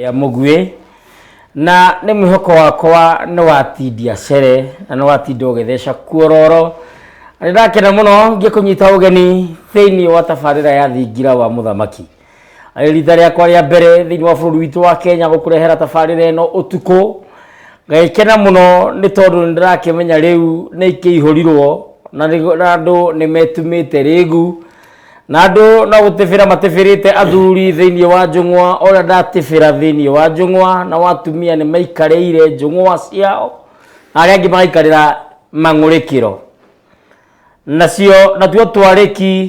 rĩa mũguĩ na nĩ mwĩhoko wakwa nĩ watindia cere na nĩ watinda ũgĩtheca kuororo nĩ ndakena mũno ngĩkũnyita ũgeni thĩinĩ wa tabarĩra ya thingira wa mũthamaki rita rĩakwa rĩa mbere thĩinĩ wa bũrũri witũ wa kenya gũkũrehera tabarĩra ĩno ũtukũ ngagĩkena mũno nĩ tondũ nĩ ndĩrakĩmenya rĩu nĩ ikĩihũrirwo na nĩ- na andũ nĩ metumĩte rĩgu na andũ no gũtĩbĩra matĩbĩrĩte athuri thĩinĩ wa njũng'wa ũrĩa ndatĩbĩra thĩinĩ wa njũng'wa na watumia nĩ maikarĩire njũng'wa ciao na arĩa angĩ magaikarĩra mang'ũrĩkĩro nacio natuo twarĩki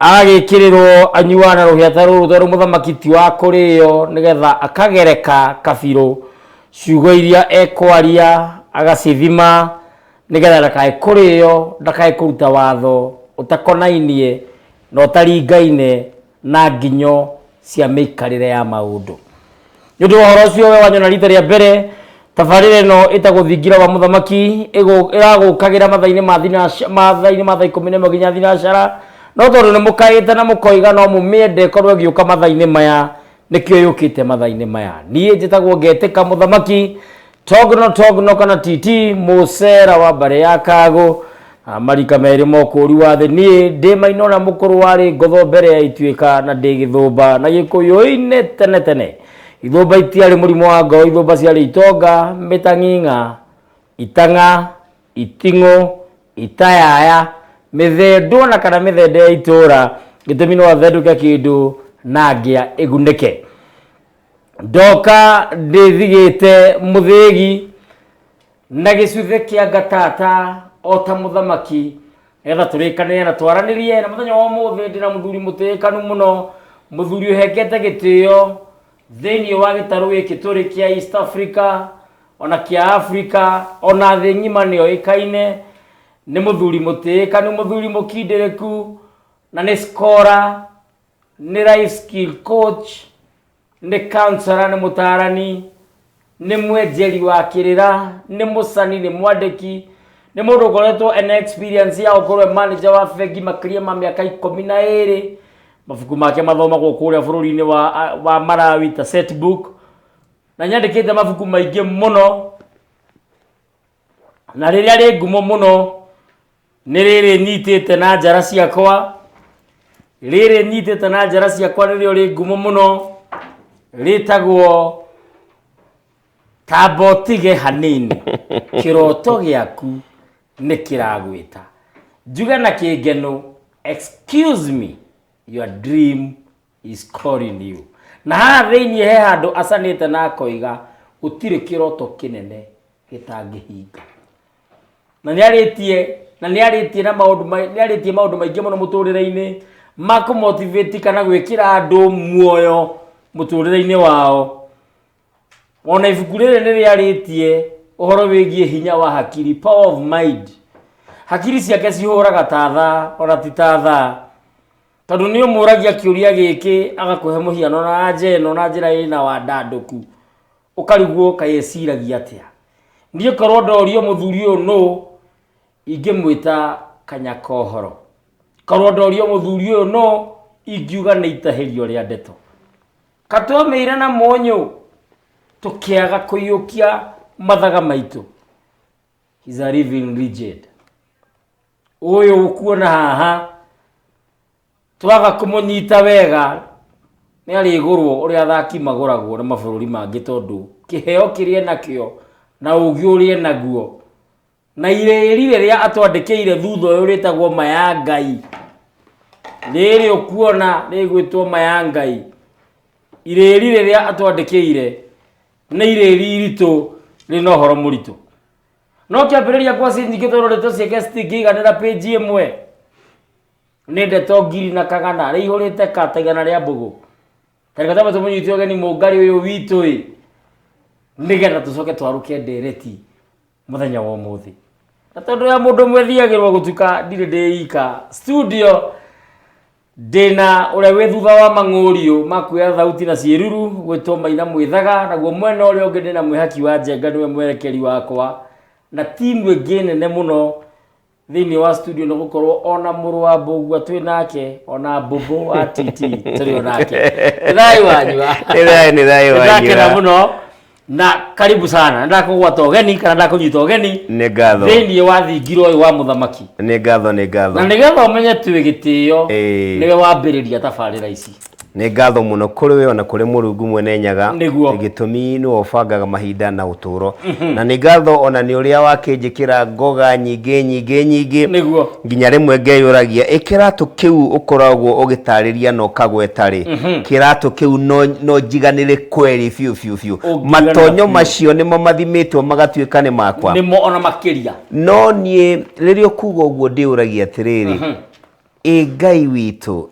agagĩkĩrĩrwo anyuaga na rũhĩa ta rũrũ tondũ mũthamaki ti wa kũrĩo nĩgetha akagereka kabirũ ciugo iria ekwaria agacithima nĩgetha ndakae kũrĩo ndakae kũruta watho ũtakonainie na ũtaringaine na nginyo cia mĩikarĩre ya maũndũ nĩ ũndũ wa ũhoro ũcio we wanyona rita rĩa mbere tabarĩra ĩno ĩtagwo thingira wa mũthamaki ĩgũ- ĩragũkagĩra mathainĩ ma thinaca- mathainĩ ma thaa ikũmi na ĩmwe nginya thinacara no tondũ nĩ mũkaĩte na mũkoiga no mũmĩende korwo ĩgĩũka mathainĩ maya nĩkĩo yũkĩte mathainĩ maya niĩ njĩtagwo ngetĩka mũthamaki togno togno kana titi musera wa mbare ya kago ah, marika merĩ mokũũri wa thĩ niĩ ndĩ mainona mũkũrũ warĩ ngotho mbere ya ituĩka na ndĩ gĩthũmba na gĩkũyũ-inĩ tene tene ithũmba itiarĩ mũrimũ wa ngoro ithũmba ciarĩ itonga mĩtang'ing'a itang'a iting'ũ itayaya mĩthendwo na kana mĩthende ya itũũra gĩtũmi no athendũke kĩndũ na ngĩa ĩgunĩke ndoka ndĩthigĩte mũthĩgi na gĩcuthe kĩa ngatata o ta mũthamaki nĩgetha tũrĩkanĩre na twaranĩrie na mũthenya wa ũmũthĩ ndĩna mũthuri mũtĩĩkanu mũno mũthuri ũhengete gĩtĩo thĩinĩ wa gĩtarũ gĩkĩ tũrĩ kĩa east africa ona kĩa africa ona thĩ ng'ima nĩyo ĩkaine nĩ mũthuri mũtĩĩkanu mũthuri mũkindĩrĩku na nĩ skora nĩ life skill coach nĩ counselor nĩ mũtaarani nĩ mwenjeri wa kĩrĩra nĩ mũcani nĩ mwandĩki nĩ mũndũ ũkoretwo ena experience ya gũkorwo e manager wa bengi makĩria ma mĩaka ikũmi na ĩrĩ mabuku make mathomagwo kũrĩa bũrũri-inĩ wa, wa marawi ta setbook na nyandĩkĩte mabuku maingĩ mũno na rĩrĩa rĩ ngumo mũno nĩ rĩrĩ nyitĩte na njara ciakwa rĩrĩ nyitĩte na njara ciakwa nĩrĩo rĩ ngumo mũno rĩtagwo tamba ũtige hanini kĩroto gĩaku nĩ kĩragwĩta njuge na kĩngeno excuse me your dream He's calling you. Na haha thĩinĩ he handũ acanĩte na akoiga gũtirĩ kĩroto kĩnene gĩtangĩhinga. Na nĩarĩtie na nĩarĩtie na maũndũ mai- nĩarĩtie maũndũ maingĩ mũno mũtũrĩre-inĩ ma kũmotivate kana gwĩkĩra andũ muoyo mũtũrĩre-inĩ wao. Ona ibuku rĩrĩ nĩrĩarĩtie ũhoro wĩgiĩ hinya wa hakiri, power of mind. Hakiri ciake cihũraga ta thaa, ona ti ta thaa. Tondũ nĩ ũmũragia kĩũria gĩkĩ agakũhe mũhiano na anja ĩno na njĩra ĩna wandandũku, ũkarigwo kaĩ eciragia atĩa. Niĩ korwo ndorio mũthuri ũyũ nũ, ingĩmwĩta Kanyakohoro. Korwo ndorio mũthuri ũyũ nũ, ingiuga nĩ itahĩrio rĩa ndeto. Ka twamĩire na mũnyũ, tũkĩaga kũiyũkia mathaga maitũ. He's a living legend. ũyũ ũkuona haha twaga kũmũnyita wega nĩ arĩgũrwo ũrĩa athaki magũragwo na mabũrũri mangĩ tondũ kĩheo kĩrĩa nakĩo na ũgĩ ũrĩa naguo na irĩri rĩrĩa atwandĩkĩire thutha ũyũ rĩtagwo maya ngai rĩrĩ ũkuona rĩgwĩtwo maya ngai irĩri rĩrĩa atwandĩkĩire nĩ irĩri iritũ rĩna ũhoro mũritũ no kĩambĩrĩria kwa scene nyingĩ tondũ ndeto cia guest ingĩiganĩra page ĩmwe nĩ ndeto ngiri na kagana rĩa ihũrĩte ka ta igana rĩa mbũgũ tarĩka tama tũmũnyiti ũgeni mũngari ũyũ witũ ĩ nĩgetha tũcoke twarũke ndereti mũthenya wa ũmũthĩ na tondũ ya mũndũ mwethiagĩrwo gũtuka ndirĩ ndĩika studio Ndĩna ũrĩa wĩ thutha wa mang'ũriũ ma kuoya thauti na ciĩruru gwĩtwo maina mwĩthaga, naguo mwena ũrĩa ũngĩ ndĩna mwĩhaki wa njenga nĩwe mwerekeri wakwa, na timu ĩngĩ nene mũno thĩinĩ wa studio nĩ gũkorwo ona mũrũ wa mbũgua twĩ nake ona mbũmbũ wa titi tũrĩ o nake Nĩ thayũ wanyu wa? Nĩ thayũ, nĩ thayũ wanyu Nĩndakena wa? mũno na karibu sana ndakũgwata ũgeni kana ndakũnyita ũgeni nĩ ngatho thĩinĩ wa thingira ũyũ wa mũthamaki nĩ ngatho nĩ ngatho na nĩgetha ũmenye twĩ gĩtĩo Ĩĩ. nĩwe wambĩrĩria tabarĩra ici nĩ ngatho mũno kũrĩ we ona kũrĩ mũrungu mwene nyaga Nĩguo. gĩtũmi nĩwe ũbangaga mahinda na ũtũũro na nĩ ngatho ona nĩ ũrĩa wakĩnjĩkĩra ngoga nyingĩ nyingĩ nyingĩ nĩguo Nginya rĩmwe ngeyũragia, ĩ kĩratũ kĩu ũkoragwo ũgĩtarĩria na ũkagweta-rĩ, kĩratũ kĩu no, no njiganĩre kweri biũ biũ biũ? Ũngiganĩra Matonyo biũ. macio nĩmo mathimĩtwo magatuĩka nĩ makwa? nĩmo ona makĩria No niĩ rĩrĩa ũkuga ũguo ndĩyũragia atĩrĩrĩ, ĩ Ngai witũ,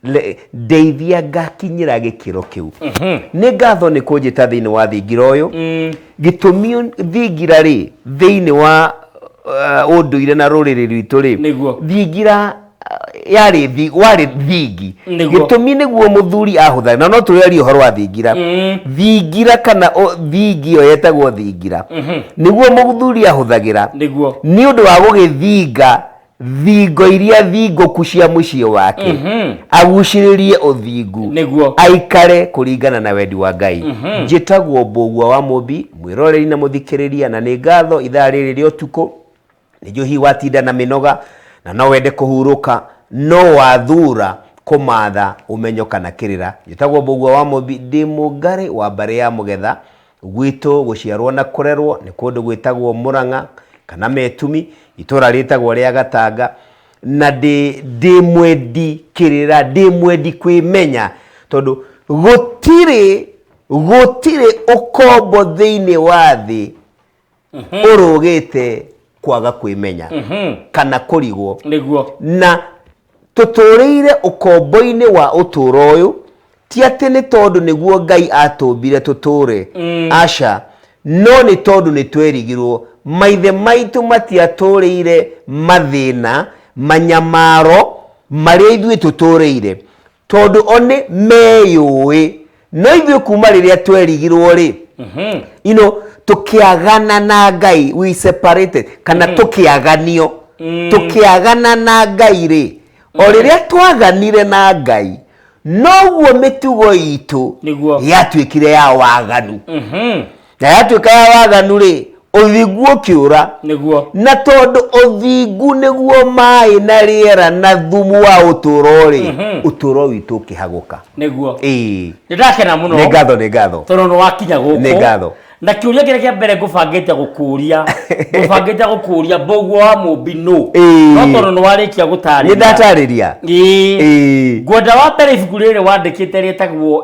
le- ndeithia ngakinyĩra gĩkĩro kĩu nĩ ngatho nĩ kũnjĩta thĩinĩ wa thingira ũyũ gĩtũmi thingira rĩ thĩinĩ wa uh, ũndũire na rũrĩrĩ rwitũ rĩ Nĩguo. thingira uh, yarĩ thi- warĩ thingi Nĩguo. gĩtũmi nĩguo mũthuri ahũthagĩra na no tũrĩarie ũhoro wa thingira thingira kana o- thingi ĩyo yetagwo thingira nĩguo mũthuri ahũthagĩra nĩguo nĩ ũndũ wa gũgĩthinga thingo iria thingũku cia mũciĩ wake agucĩrĩrie ũthingu Nĩguo. aikare kũringana na wendi wa ngai njĩtagwo mbũgua wa mũmbi mwĩroreri na mũthikĩrĩria na nĩ ngatho ithaa rĩrĩ rĩa ũtukũ nĩnjũ hihi watinda na mĩnoga na no wende kũhurũka no wathura kũmatha ũmenyo kana kĩrĩra njĩtagwo mbũgua wa mũmbi ndĩ mũngarĩ wa mbarĩ ya mũgetha Gwitũ gũciarwo na kũrerwo nĩ kũndũ gwĩtagwo Mũrang'a kana Metumi, itũra rĩtagwo rĩa Gatanga, na ndĩ ndĩ mwendi kĩrĩra, ndĩ mwendi kwĩmenya, tondũ gũtirĩ gũtirĩ ũkombo thĩinĩ wa thĩ ũrũgĩte kwaga kwĩmenya kana kũrigwo nĩguo na tũtũrĩire ũkombo-inĩ wa ũtũũro ũyũ ti atĩ nĩ tondũ nĩguo ngai atũmbire tũtũũre aca no nĩ tondũ nĩ twerigirwo maithe maitũ matiatũrĩire mathĩna manyamaro marĩa ithuĩ tũtũrĩire tondũ o nĩ meyũĩ no ithuĩ kuma rĩrĩa twerigirwo rĩ mhm. you know, tũkĩagana na ngai we separated kana mm. tũkĩaganio mm. tũkĩagana na ngai rĩ o mm. rĩrĩa twaganire na ngai noguo mĩtugo itũ yatuĩkire ya waganu mm -hmm. na yatuĩka ya waganu rĩ ũthingu ũkĩũra nĩguo na tondũ ũthingu nĩguo maĩ na rĩera na thumu wa ũtũro rĩ Mhm. ũtũro witũ ũkĩhagũka nĩguo ĩĩ nĩ ndakena mũno nĩ ngatho nĩ ngatho tondũ nĩ wakinya Nĩ gũkũ ngatho. na kĩũria kĩrĩa kĩa mbere ngũbangĩte gũkũria ngũbangĩte gũkũria mbũguo wa mũmbi nũ Ĩĩ. no tondũ nĩ warĩkia nĩ gũtarĩria ndatarĩria Ĩĩ. Ĩĩ. ngwenda wa mbere ibuku rĩrĩ wandĩkĩte rĩtagwo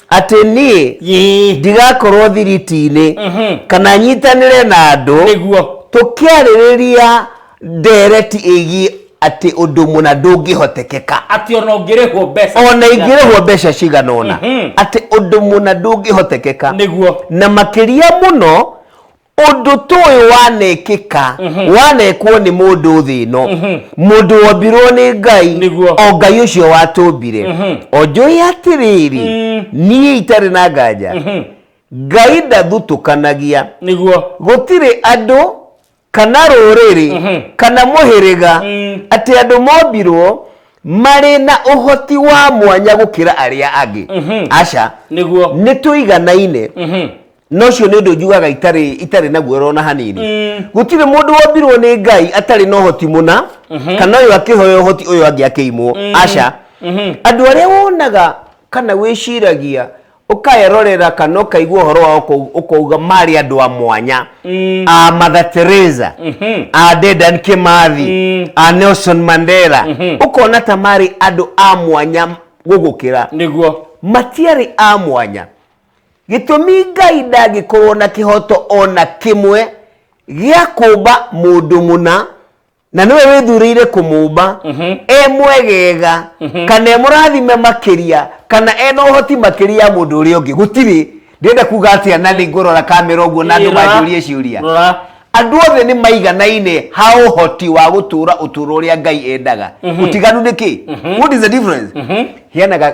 atĩ niĩ Yee. ndigakorwo thiriti-inĩ Mhm. kana nyitanĩre na andũ nĩguo tũkĩarĩrĩria ndereti ĩgiĩ atĩ ũndũ mũna ndũngĩhotekeka atĩ ona ũngĩrĩhwo mbeca ona ingĩrĩhwo mbeca cigana ũna Mhm. atĩ ũndũ mũna ndũngĩhotekeka nĩguo na makĩria mũno ũndũ tũĩ wanekĩka mhm. wanekwo nĩ mũndũ thĩ ĩno mhm. mũndũ wombirwo nĩ ngai o ngai ũcio watũmbire mhm. onjũĩ atĩrĩrĩ mm. niĩ itarĩ na nganja ngai ndathutũkanagia nĩguo gũtirĩ andũ kana rũrĩrĩ kana mũhĩrĩga mm. atĩ andũ mombirwo marĩ na ũhoti wa mwanya gũkĩra arĩa angĩ aca nĩguo nĩ tũiganaine na ũcio nĩ ũndũ njugaga itarĩ itarĩ na guoro ona hanini gũtirĩ mũndũ wombirwo nĩ ngai atarĩ na ũhoti mũna kana ũyũ akĩhoya ũhoti ũyũ angĩ akĩimwo aca andũ arĩa wonaga kana wĩciragia ũkaerorera kana ũkaigua ũhoro wao ũkau- ũkauga marĩ andũ a mwanya a mother teresa a dedan kimathi a nelson mandela ũkona ta marĩ andũ a mwanya gũgũkĩra nĩguo matiarĩ a mwanya Gĩtũmi Ngai ndangĩkorwo na kĩhoto o na kĩmwe gĩa kũmba mũndũ mũna na nĩwe wĩthurĩire kũmũmba e mwegega kana e mũrathime makĩria kana e na ũhoti makĩria ya mũndũ ũrĩa ũngĩ gũtirĩ ndĩrenda kuga atĩa na nĩ ngũrora kamera ũguo na andũ Ĩra. manjũrie ciũria Rora. andũ othe nĩ maiganaine ha ũhoti wa gũtũra ũtũro ũrĩa ngai endaga ũtiganu nĩ kĩ what is the difference heanaga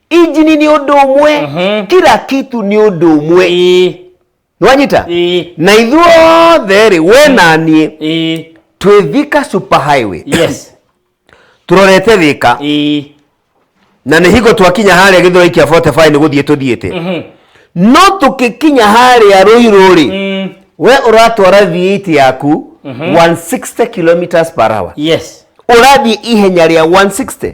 injini nĩ ũndũ ũmwe Mhm. kila kitu nĩ ũndũ ũmwe Ĩĩ, nĩwanyita ĩĩ, na ithuothe rĩ we na niĩ ĩĩ, twĩ thika super highway yes, tũrorete thika ĩĩ, na nĩ hingo twakinya harĩa gĩthoi kĩa 45 nĩ gũthiĩ tũthiĩte mhm, no tũkĩkinya harĩa rũirũ rĩ mm, we ũratwara V8 yaku 160 kilometers per hour yes, ũrathiĩ ihenya rĩa 160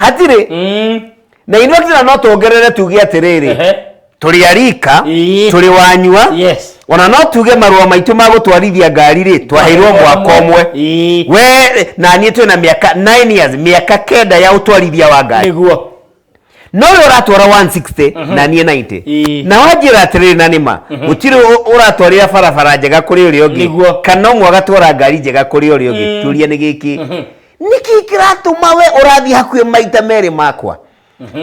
hatirĩ Mm. na ithuĩ akĩra no tuongerere tuge atĩrĩrĩ Ehe. tũrĩ arika Ii. tũrĩ wanyua Yes. ona no tuge marũa maitũ ma gũtwarithia ngari rĩ twaheirwo mwaka ũmwe Ii. we na niĩ twĩ na mĩaka 9 years mĩaka kenda ya ũtwarithia wa ngari Nĩguo. no ũyũ ũratwara 160 na niĩ 90 Ii. na wanjĩra atĩrĩrĩ na nĩma gũtirĩ ũ- ũratwarĩra barabara njega kũrĩ ũrĩa ũngĩ Nĩguo. kana ũmwe agatwara ngari njega kũrĩ ũrĩa ũngĩ turia nĩ gĩkĩ nĩkĩ kĩratũma we ũrathiĩ hakuhĩ maita merĩ makwa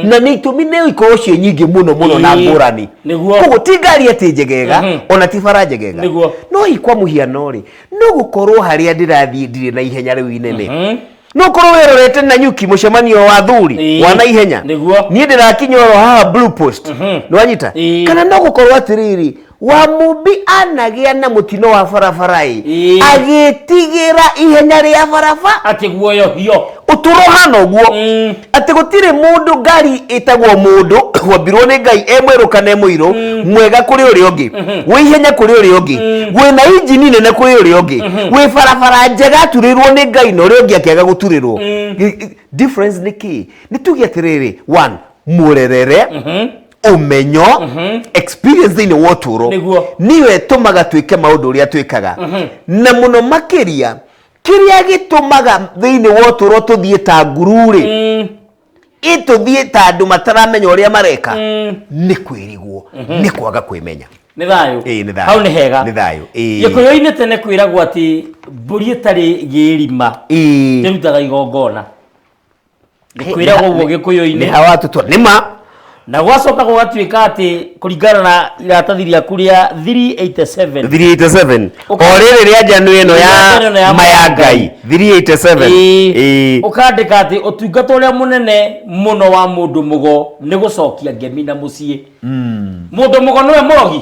na nĩ itũmi nĩ ikorwo ciĩ nyingĩ mũno mũno na Ĩĩ, ngũrani nĩguo. koguo ti ngari atĩ njegega Mhm. ona ti bara njegega Nĩguo. no hihi kwa mũhiano rĩ no gũkorwo harĩa ndĩrathiĩ ndirĩ na ihenya rĩu inene Mhm. no korwo wĩrorete na nyuki mũcemanio wa thuri Ĩĩ. wa na ihenya Nĩguo. niĩ ndĩrakinya oro haha blue post Mhm. nĩwanyita Ĩĩ. kana no gũkorwo atĩrĩrĩ wa mumbi anagĩa na mũtino wa barabara-ĩ Ĩĩ. agĩtigĩra ihenya rĩa baraba atä guoyohio ũtũro hana ũguo Mm. atĩ gũtirĩ mũndũ ngari ĩtagwo mũndũ wambirwo nĩ ngai e mwerũ kana e mũirũ mwega kũrĩ ũrĩa ũngĩ wĩ ihenya kũrĩ ũrĩa ũngĩ wĩ na injini nene kũrĩ ũrĩa ũngĩ wĩ barabara njega aturĩrwo nĩ ngai na ũrĩa ũngĩ akĩaga gũturĩrwo I- i- difference nĩ kĩ nĩ tuge atĩrĩrĩ one mũrerere ũmenyo experience thĩinĩ wa ũtũũro Nĩguo. nĩyo ĩtũmaga twĩke maũndũ ũrĩa twĩkaga na mũno makĩria kĩrĩa gĩtũmaga thĩinĩ wa ũtũũro tũthiĩ ta nguru-rĩ ĩtũthiĩ ta andũ mataramenya ũrĩa mareka nĩ kwĩrigwo nĩ kwaga kwĩmenya nĩ thayũ Ĩĩ, nĩ thayũ. hau nĩ hega Nĩ thayũ, ĩĩ. gĩkũyũ-inĩ tene kwĩragwo atĩ mbũri ĩtarĩ gĩrima Ĩĩ. ĩrutaga igongona gĩkwĩra ũguo nĩ gĩkũyũ-inĩ ha watutwo nĩ ma na gwacoka gũgatuĩka atĩ kũringana na iratathi rĩaku rĩa 387 387 o Ũka- rĩrĩ rĩa njano ĩno Rĩa njano ĩno ya ya maya ngai 387 Ĩĩ. Ĩĩ. ũkandĩka atĩ ũtungata ũrĩa mũnene mũno wa mũndũ mũgo nĩ gũcokia ngemi na mũciĩ mũndũ mũgo nĩwe mũrogi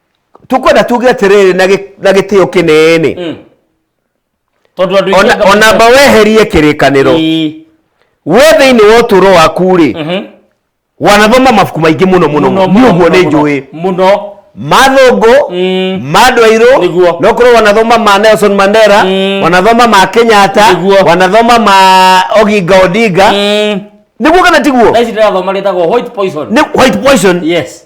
tukwenda tuge atiriri na gi- na gitio kinene Mm. tondå andå Ona- ona mba weherie kirikaniro we thiini wa uturo waku ri wanathoma mabuku maingi muno muno ni uguo ni njui må no mathungu Mm. ma andå airå Nĩguo. no korwo wanathoma ma nelson mandera Mm. wanathoma ma kenyatta Nĩguo. wanathoma ma oginga odinga niguo kana tiguo taici ndä rathoma rä tagwo white poison Nĩ- white poison yes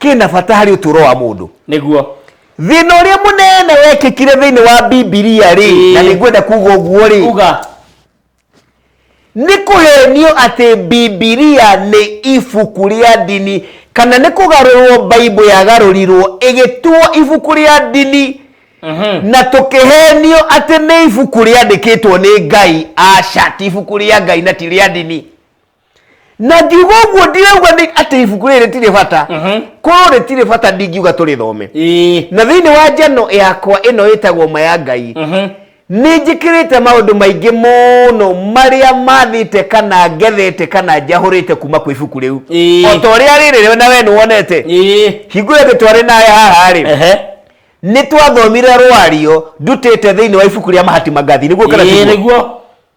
kĩna bata harĩ ũtũũro wa mũndũ nĩguo thĩna ũrĩa mũnene wekĩkire thĩinĩ wa bibilia rĩ Ĩĩ. na nĩngwenda kuga ũguo rĩ uga nĩ kũhenio atĩ bibilia nĩ ibuku rĩa ndini kana nĩ kũgarũrwo baibũ yagarũrirwo ĩgĩtuo ibuku rĩa ndini Mhm. na tũkĩhenio atĩ nĩ ibuku rĩandĩkĩtwo nĩ ngai aca ti ibuku rĩa ngai na ti rĩa ndini na ngiuga ũguo ndirauga nĩ atĩ ibuku rĩrĩ rĩtirĩ bata korwo rĩtirĩ bata ndingiuga tũrĩthome Ĩĩ. na thĩinĩ wa njano yakwa ĩno ĩtagwo ma ya ngai nĩ njĩkĩrĩte maũndũ maingĩ mũno marĩa mathĩte kana ngethete kana njahũrĩte kuma kwĩ ibuku rĩu Ĩĩ. o ta ũrĩa rĩrĩ we na we nĩ wonete Ĩĩ. hingũre thĩ twarĩ nawe haha-rĩ Ehe. nĩ twathomire rwario ndutĩte thĩinĩ wa ibuku rĩa mahati mangathi nĩguo kana Ĩĩ, tiguo? nĩguo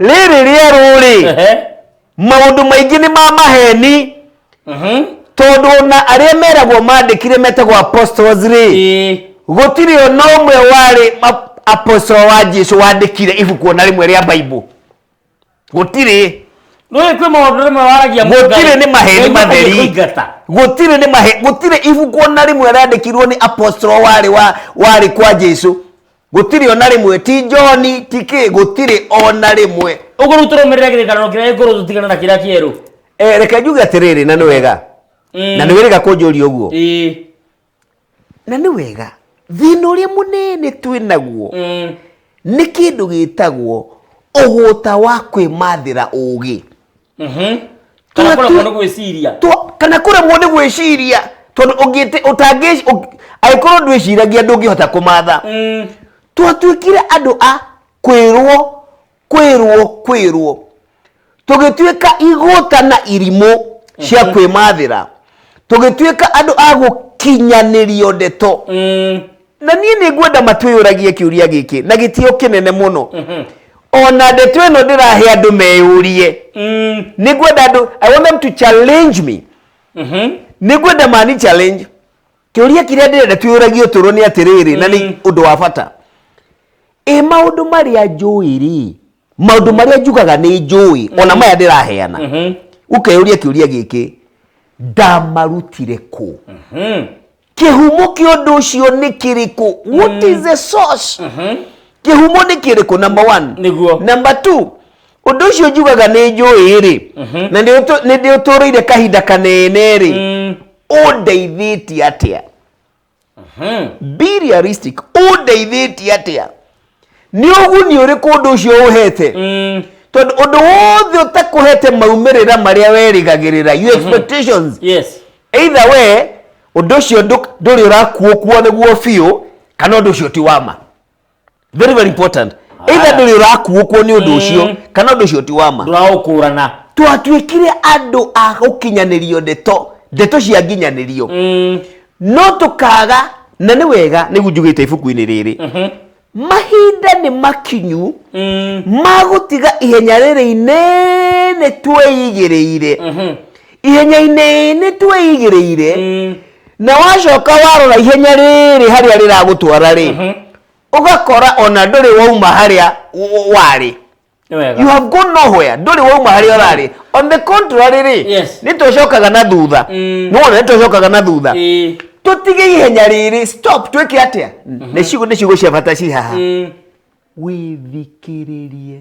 rĩrĩ rĩerũ-rĩ Ehe. maũndũ maingĩ nĩ ma maheni Mhm. tondũ ona arĩa meragwo mandĩkire metagwo apostles rĩ Ĩĩ. gũtirĩ ona ũmwe warĩ ma- apostle wa jesu wandĩkire ibuku ona rĩmwe rĩa baibũ gũtirĩ Nũĩ kwĩ maũndũ rĩmwe waragia mũndũ Gũtirĩ ngarĩ. nĩ maheni Ngai matheri. matarĩ kũingata. gũtirĩ nĩ mahe gũtirĩ ibuku ona rĩmwe rĩandĩkirwo nĩ apostle warĩ wa warĩ kwa jesu Gũtirĩ ona rĩmwe, ti John, ti kĩ, gũtirĩ ona rĩmwe. Ũguo rĩu tũrũmĩrĩre kĩrĩkanĩro kĩrĩa gĩkũrũ tũtigana na kĩrĩa kĩerũ. Eh, reke njuge atĩrĩrĩ na nĩ wega Mm. na nĩ wĩrĩga kũnjũria ũguo Ĩĩ. na nĩ wega thĩna ũrĩa mũnene twĩ naguo Mm. nĩ kĩndũ gĩtagwo ũgũta wa kwĩmathĩra ũũgĩ kana kũremwo nĩ gwĩciria kana kũremwo nĩ gwĩciria tondũ ũngĩte ũtangĩ angĩkorwo ndwĩciragia ndũngĩhota kũmatha mm. twatuĩkire andũ a kwĩrwo kwĩrwo kwĩrwo tũgĩtuĩka igũta na irimũ cia mhm. kwĩmathĩra tũgĩtuĩka andũ a gũkinyanĩrio ndeto mm. na niĩ nĩ ngwenda matwĩyũragie kĩũria gĩkĩ na gĩtio kĩnene mũno mhm. ona ndeto ĩno ndĩrahe andũ meyũrie mm. nĩ ngwenda andũ i want them to challenge me mhm. nĩ ngwenda mani challenge kĩũria kĩrĩa ndĩrenda twĩyũragie ũtũro nĩ atĩrĩrĩ na nĩ mm. ũndũ wa bata ĩ maũndũ marĩa njũĩ rĩ maũndũ marĩa njugaga nĩ njũĩ ona mm-hmm. maya ndĩraheana mm-hmm. ũkeyũria kĩũria gĩkĩ ndamarutire kũ mm-hmm. kĩhumo kĩa ũndũ ũcio nĩ kĩrĩkũ what is the source kĩhumo nĩ kĩrĩkũ number one Nĩguo. number two ũndũ ũcio njugaga nĩ njũĩ rĩ na nĩ ũtũ- nĩ ndĩ ũtũrĩire kahinda kanene rĩ Mm. ũndeithĩtie atĩa be realistic ũndeithĩtie atĩa nĩ ũguni ũrĩkũ ũndũ ũcio ũhete Mm. tondũ ũndũ wothe ũtakũhete maumĩrĩra marĩa werĩgagĩrĩra you expectations yes either we ũndũ ũcio ndũ- ndũrĩ ũrakuokua nĩguo biũ kana ũndũ ũcio ti wa ma very very important either Ah. ndũrĩ ũrakuokua nĩ ũndũ ũcio Mm. kana ũndũ ũcio ti wa ma ndũraũkũrana twatuĩkire andũ a gũkinyanĩrio ndeto ndeto cia nginyanĩrio Mm. no tũkaga na nĩ wega nĩguo njugĩte ibuku-inĩ rĩrĩ mahinda nĩ makinyu ma gũtiga ihenya rĩrĩ inene twĩigĩrĩire ihenya-inĩ inĩ twĩigĩrĩire na wacoka warora ihenya rĩrĩ harĩa rĩragũtwara rĩ ũgakora ona ndũrĩ wauma harĩa w- warĩ Nĩ wega. you have gone nowhere ndũrĩ wauma harĩa ũrarĩ on the contrary rĩ Yes. nĩ tũcokaga na thutha Mm. nĩwona nĩ tũcokaga na thutha Ĩĩ. tũtige ihenya rĩrĩ stop twĩke atĩa nĩ ciugo nĩ ciugo cia bata ci haha Mm. wĩthikĩrĩrie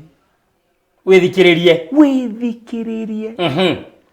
wĩthikĩrĩrie wĩthikĩrĩrie Mhm.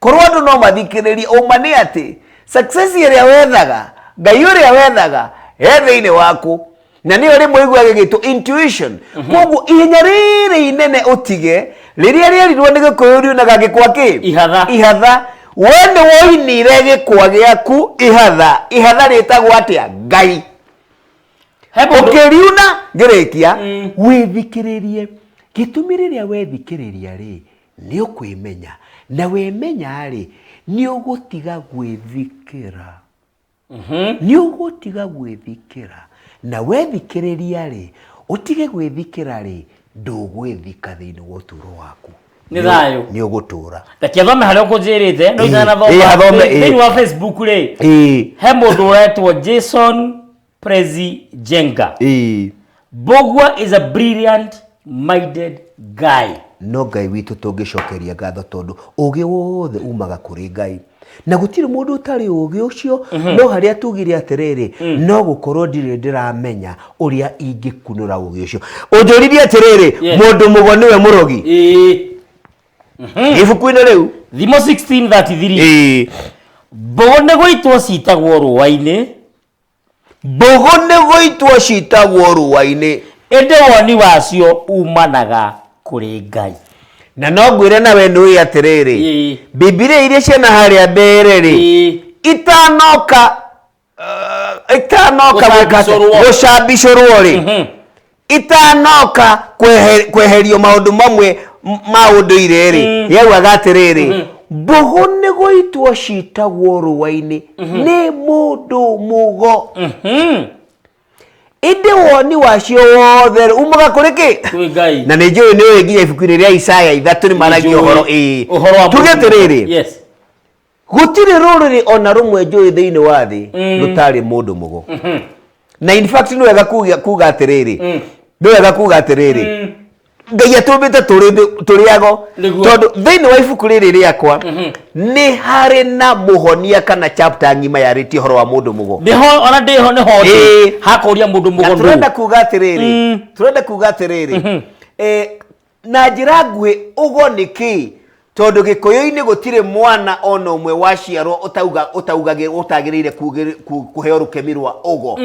Korwo andũ no mathikĩrĩrie, ũma nĩ atĩ success ĩrĩa wethaga, Ngai ũrĩa wethaga, he thĩinĩ waku. Na nĩyo rĩmwe ĩiguaga ĩgĩtwo intuition. Koguo ihenya rĩrĩ inene ũtige, rĩrĩa rĩerirwo nĩ gĩkũyũ riunaga gĩkwa kĩ? Ihatha. Ihatha. We nĩ woinire gĩkwa gĩaku ihatha. Ihatha rĩtagwo atĩa? Ngai. He mũndũ- Ũkĩriuna, ngĩrĩkia, wĩthikĩrĩrie. Gĩtũmi rĩrĩa wethikĩrĩria rĩ, nĩ ũkwĩmenya na wĩmenya-rĩ nĩ ũgũtiga gwĩthikĩra nĩ ũgũtiga gwĩthikĩra na wethikĩrĩria-rĩ ũtige gwĩthikĩra-rĩ ndũgwĩthika thĩinĩ wa ũtũro waku Nĩ thayũ. nĩ ũgũtũra reke thome harĩa ũkũnjĩrĩte no Ĩĩ, ĩĩ, athome, ĩĩ. itanathomthĩinĩ wa facebook rĩ Ĩĩ. he mũndũ ũretwo jason Prezi Jenga. Ĩĩ, Bogwa is a brilliant minded guy. no ngai witũ tũngĩcokeria ngatho tondũ ũgĩ wothe umaga kũrĩ ngai na gũtirĩ mũndũ ũtarĩ ũgĩ ũcio no harĩa tugire atĩrĩrĩ no gũkorwo ndirĩ ndĩramenya ũrĩa ingĩkunũra ũgĩ ũcio ũnjũririe atĩrĩrĩ Yeah. mũndũ mũgo nĩwe mũrogi Ĩĩ. ibuku-inĩ rĩu Thimo 16:33. Ĩĩ. Mbogo nĩ gũitwo citagwo rũũa-inĩ Mbũgũ nĩgũitwo citagwo rũũa-inĩ. Ĩndĩ woni wacio uumanaga kũrĩ Ngai. Na no ngwĩre na wee nĩũĩ atĩrĩrĩ, Ĩĩ. Bibilia iria ciĩ na harĩa mbere-rĩ, Ĩĩ. itanoka, uh, itanoka gwĩka atĩa? Gũcambicũrwo. Gũcambicũrwo-rĩ, Mhm. itanoka kwehe- kweherio maũndũ mamwe m- ma ũndũire-rĩ Mm. yaugaga atĩrĩrĩ Mhm. mbũgũ nĩ gũitwo citagwo rũa-inĩ nĩ mũndũ mũgo Mhm. ĩndĩ woni wacio wothe umaga kũrĩ kĩ Kwĩ Ngai. na nĩ njũĩ nĩ ũĩ nginya ibuku-inĩ rĩa isaya ithatũ nĩ maragia Nĩnjũĩ ũhoro ĩĩ. ũhoro wa tuge mũndũ. atĩrĩrĩ Yes. gũtirĩ rũrĩrĩ ona rũmwe njũĩ thĩinĩ wa thĩ mm. rũtarĩ mũndũ mũgo mm-hmm. na in fact nĩ wega kuga atĩrĩrĩ mm. nĩ wega kuga atĩrĩrĩ mm. ngai atũmbĩte tũrĩago tondũ thĩinĩ wa ibuku rĩrĩ rĩakwa mm-hmm. nĩ harĩ na mũhonia kana chapter ng'ima yarĩtie ũhoro wa mũndũ mũgo ona ndĩho nĩ ho hakũria mũndũ mũgo tũrenda kuga atĩrĩrĩ tũrenda kuga atĩrĩrĩ mm-hmm. eh, Na njĩra nguhĩ, ũgo nĩ kĩĩ? Tondũ Gĩkũyũ-inĩ gũtirĩ mwana o na ũmwe waciarwo ũtauga, ũtaugagĩ, ũtagĩrĩire kugĩrĩ, ku, kũheo rũkemi rwa ũgo.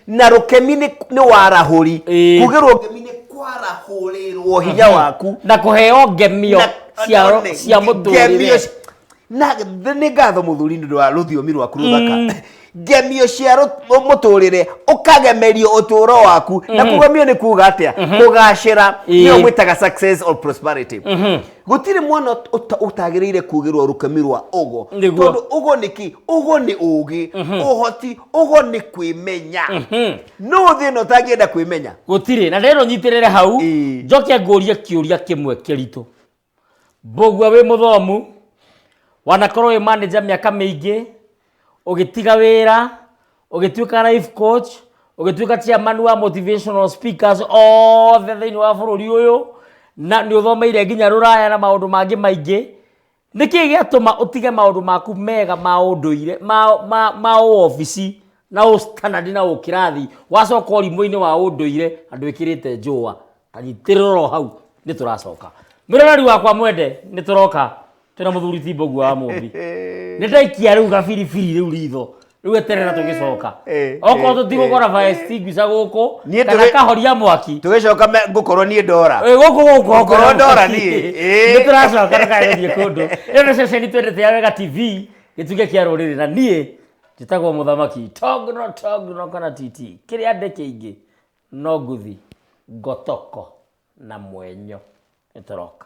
Na rũkemi nĩ, nĩ warahũri. Ĩĩ. Kugĩrwo ngemi nĩ kwarahũrĩrwo hinya waku. Na kũheo ngemio Na, cia, one, cia nge- ngemio mũtũrĩre. ci- na th- nĩ ngatho mũthuri nĩ ũndũ wa rũthiomi rwaku rũthaka ngemio cia rũ- mũtũrĩre ũkagemerio ũtũro waku na kũgemio nĩ kuga atĩa kũgacĩra Ĩĩ. nĩyo mwĩtaga success or prosperity gũtirĩ mwana ũt- ũta- ũtagĩrĩire kugĩrwo rũkemi rwa ũgo Nĩguo. tondũ ũgo nĩ kĩ ũgo nĩ ũgĩ ũhoti ũgo nĩ kwĩmenya no thĩ ĩno ũtangĩenda kwĩmenya gũtirĩ na rero nyitĩrĩre hau Ĩĩ. njoke ngũrie kĩũria kĩmwe kĩritũ Mbũgua wĩ mũthomu, wanakorwo wĩ manager mĩaka mĩingĩ, ũgĩtiga wĩra, ũgĩtuĩka life coach, ũgĩtuĩka chairman wa motivational speakers othe thĩinĩ wa bũrũri ũyũ, na nĩ ũthomeire nginya rũraya na maũndũ mangĩ maingĩ, nĩ kĩĩ gĩatũma ũtige maũndũ maku mega ma ũndũire, ma, ma, ma ũobici na ũ standard na ũkĩrathi, wacoka ũrimũ-inĩ wa ũndũire andũ ĩkĩrĩte njũa? anyitĩrĩrwo hau nĩ tũracoka mĩroreri wakwa mwende nĩ tũroka twĩna mũthuri timbogu wa mũmbi nĩ ndaikia rĩu gabiribiri rĩu ritho rĩu eterera tũgĩcoka Eh, okorwo eh, tũtigũkora fire extinguisher gũkũ Niĩ kana tũgĩ- kahoria mwaki tũgĩcoka me- ngũkorwo niĩ ndora Ĩ, gũkũ gũkũ Ngorwo ndora niĩ, ĩ. nĩ tũracoka tũkagĩthiĩ kũndũ ĩyo nĩ ceceni twendete ya wega tv gĩtuge kĩa rũrĩrĩ na niĩ njĩtagwo mũthamaki togno togno kana titi kĩrĩa ndĩ kĩingĩ No ngũthi ngotoko na mwenyo nĩ tũroka